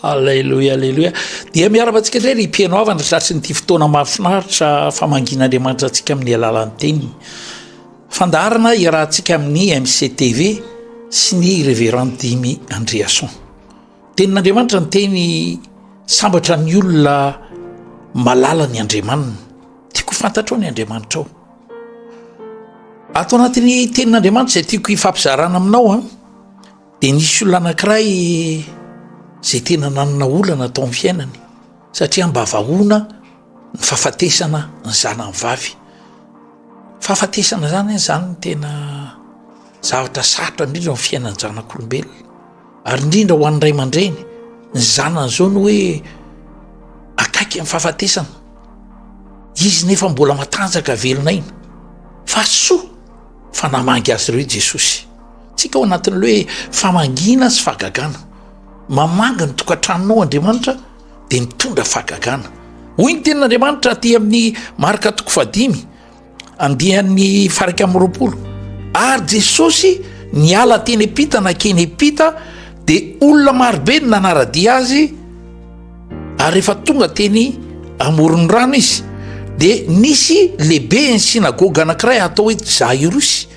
Aleloia, aleloia. Dia miarabantsika indray ry mpieno havana tratr'nyity fotoana mahafinaritra famangian'Andriamanitra antsika amin'ny alalan'ny teniny. Fandaharana iarahantsika amin'ny MCTV sy ny Reverend Dimy Andriason. Tenin'Andriamanitra ny teny sambatra ny olona malala ny Andriamaniny. Tiako fantatrao ny Andriamanitrao. Ato anatin'ny tenin'Andriamanitra izay tiako hifampizarana aminao an. Ah. Dia nisy olona anankiray izay tena nanana olana tao amin'ny fiainany satria mba vahoana ny fahafatesana ny zanany vavy. Fahafatesana izany anie izany no tena zavatra sarotra indrindra amin'ny fiainan-janak'olombelona ary indrindra ho an'ny ray aman-dreny ny zanany izao no hoe akaiky amin'ny fahafatesana, izy nefa mbola matanjaka velon'aina fa soa. Fa namangy azy ireo i Jesosy. Tsika ao anatin'ilay hoe famangiana sy fahagagana. Mamangy ny tokantranonao Andriamanitra dia mitondra fahagagana. Hoy ny tenin'Andriamanitra aty amin'ny Marka toko fahadimy, andian'ny farika amin'ny roapolo. Ary Jesosy niala teny am-pita nankeny am-pita dia olona marobe no nanara-dia azy. Ary rehefa tonga teny amoron'ny rano izy dia nisy lehibe ny synagoga anankiray atao hoe Jairosy.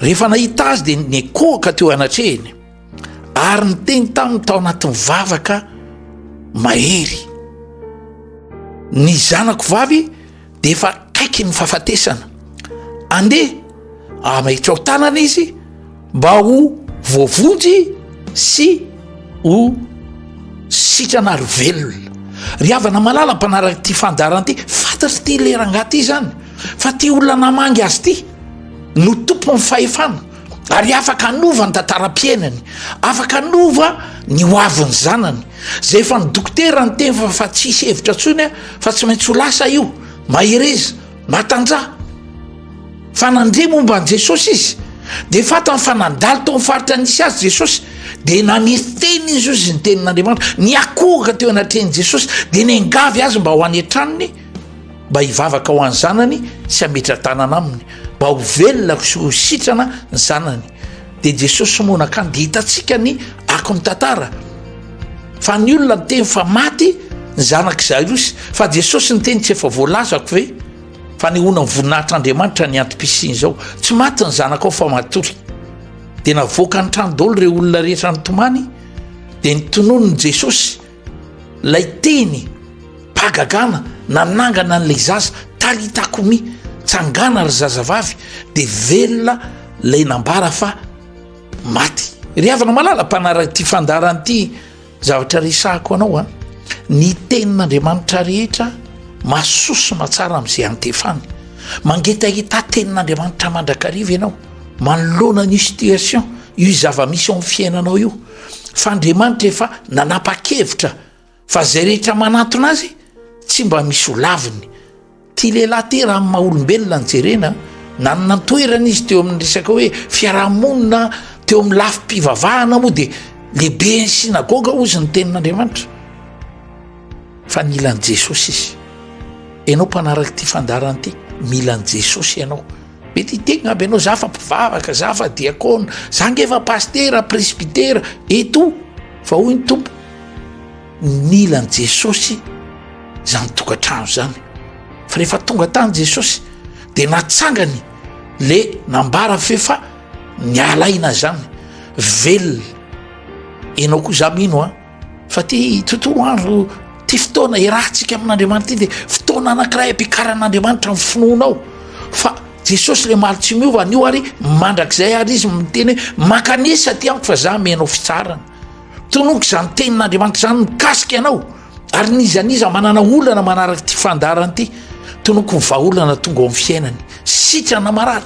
Rehefa nahita azy dia nekohaka teo anatrehiny ary niteny taminy tao anatin'ny vavaka mahery. Ny zanako vavy dia efa akaiky ny fahafatesana. Andeha hamahitra ao tanana izy mba ho voavonjy sy ho sitrana ary velona. Ry havana malala mpanaraka ity fandaharana ity, fantatry ity le rangahy ity izany fa ity olona namangy azy ity no tompon'ny fahefana. ary afaka hanova ny tantaram-piainany afaka hanova ny ho avin'ny zanany zay efa ny dokotera ny teny fa tsy hisy hevitra ntsony a fa tsy maintsy ho lasa io mahereza matanjaha fa nandre momba an'i jesosy izy de fatany fa nandalo tao nyfaritra nisy azy jesosy de nametena izy io zy ny tenin'andriamanitra ny akohoka teo anatrehan'i jesosy de ny angavy azy mba ho any an-tranony mba hivavaka ho an'ny zanany sy hametra-tanana aminy mba ho velona sy ho sitrana ny zanany dia jesosy no nakany dia hitantsika ny ako ny tantara fa ny olona ny teny fa maty ny zanak' zairosy fa jesosy ny teny tsy efa voalazako ve fa ny honany voninahitr'andriamanitra ny antom-pisiny izao tsy maty ny zanak' ao fa matory dia navoaka ny trano daolo ireo olona rehetra nytomany dia ny tonony jesosy Ilay teny mpahagagana nanangana an'ilay zaza Talitako mi, tsangana ry zazavavy dia velona ilay nambara fa maty. Ry havana malala mpanaraka ity fandaharana ity zavatra resahako anao a, ny tenin'Andriamanitra rehetra mahasoa sy mahatsara amin'izay antefany. Mangetaheta tenin'Andriamanitra mandrakariva ianao manoloana an'io situation io zava-misy ao amin'ny fiainanao io. fa Andriamanitra efa nanapa-kevitra fa izay rehetra manatona azy tsy mba misy ho laviny. Tia lehilahy ity raha ny maha olombelona ny jerena, nanana ny toerana izy teo amin'ny resaka hoe fiarahamonina teo amin'ny lafim-pivavahana moa dia lehibe ny synagoga ozy ny tenin'Andriamanitra. Fa nila an'i Jesosy izy. Ianao mpanaraka ity fandaharana ity, mila an'i Jesosy ianao. Mety hitegna aby anao za fa mpivavaka za fa diakona za nge fa pastera presbytera eto fa hoy ny tompo nila ny jesosy zany tokantrano zany fa rehefa tonga tany jesosy de natsangany le nambara fefa ny alaina zany velona enao koa za mino a Fa ty tontolo andro ty fotoana iarahantsika amin'Andriamanitra ty dia fotoana anankiray ampikaran'Andriamanitra amin'ny finoanao fa Jesosy le maly tsy miova anio ary mandrakizay ary izy miteny hoe mankanesa ty amiko fa za menao fitsarana tonoko izany tenin'Andriamanitra izany mikasika anao ary nizaniza manana olana manaraka ty fandarany ty tonoko ny vahaolana tonga ao amin'ny fiainany sitrana marary